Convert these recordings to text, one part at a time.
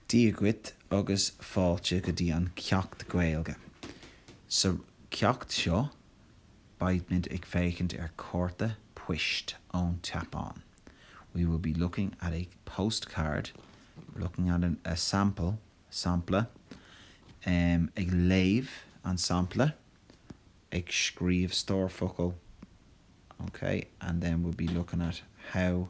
Dia duit agus fáilte go dtí an ceacht Gaeilge. Sa cheacht seo beimid ag féachaint ar cárta poist ón tSeapáin, we will be looking at a postcard, looking at a sample, sampla, em, ag léamh an sampla, ag scríobh stór focal, ok, and then we'll be looking at how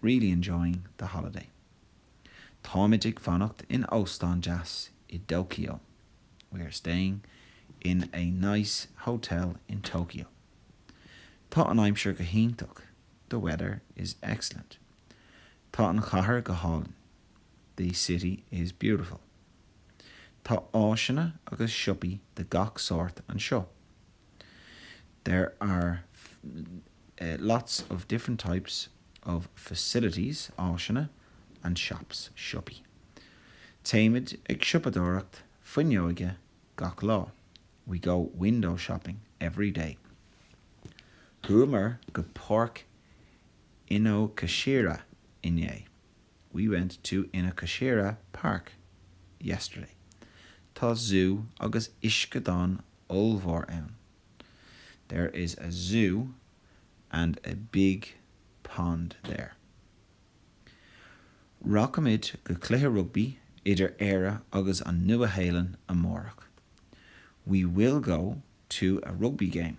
really enjoying the holiday. Táimid ag fanacht in óstán deas i dTóiceo. We are staying in a nice hotel in Tokyo. Tá an aimsir go hiontach. The weather is excellent. Tá an chathair go hálainn. The city is beautiful. Tá áiseanna agus siopaí de gach sórt anseo. There are, eh, lots of different types of facilities, áiseanna, and shops, siopaí. Téimid ag siopadóireacht fuinneoige gach lá, we go window shopping every day. Chuamar go Páirc Inokashira inné. We went to Inokashira Park yesterday. Tá zú agus uisceadán ollmhór ann. There is a zoo and a big pond there. Rachaimid go cluiche rugbaí idir Éire agus an Nua-Shéalainn amárach. We will go to a rugby game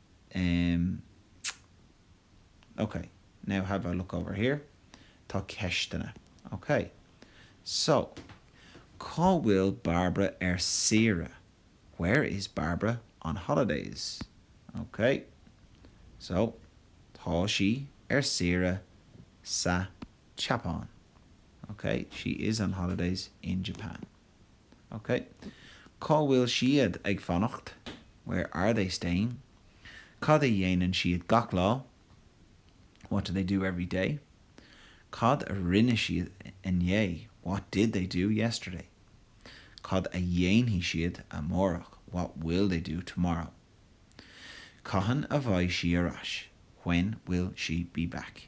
Em. Ok. Now have a look over here? Tá ceisteanna. Ok. So, cá bhfuil Bairbre ar saoire? Where is Bairbre on holidays? Ok. So, tá sí ar saoire sa tSeapáin. Ok. She is on holidays in Japan. OK. Cá bhfuil siad ag fanacht? Where are they staying? Cad a dhéanann siad gach lá? What do they do every day? Cad a rinne siad inné? What did they do yesterday? Cad a dhéanfaidh siad amárach? What will they do tomorrow? Cathain a bheidh sí ar ais? When will she be back?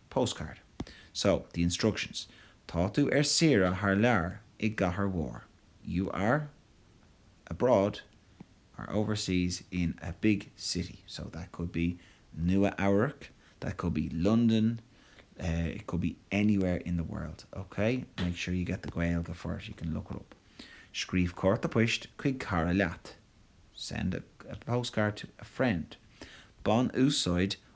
Postcard. So, the instructions, tá tú ar saoire thar lear, i gcathair mhór, you are abroad, are overseas in a big city, so that could be Nua Eabhrac, that could be London, it could be anywhere in the world, ok? Make sure you get the Gaeilge for it, you can look it up. Scríobh cárta poist chuig cara leat, send a postcard to a friend. Bain úsáid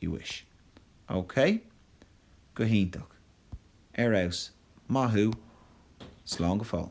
you wish. OK? Go hiontach. Ar fheabhas. Maith thú. Slán go fóill.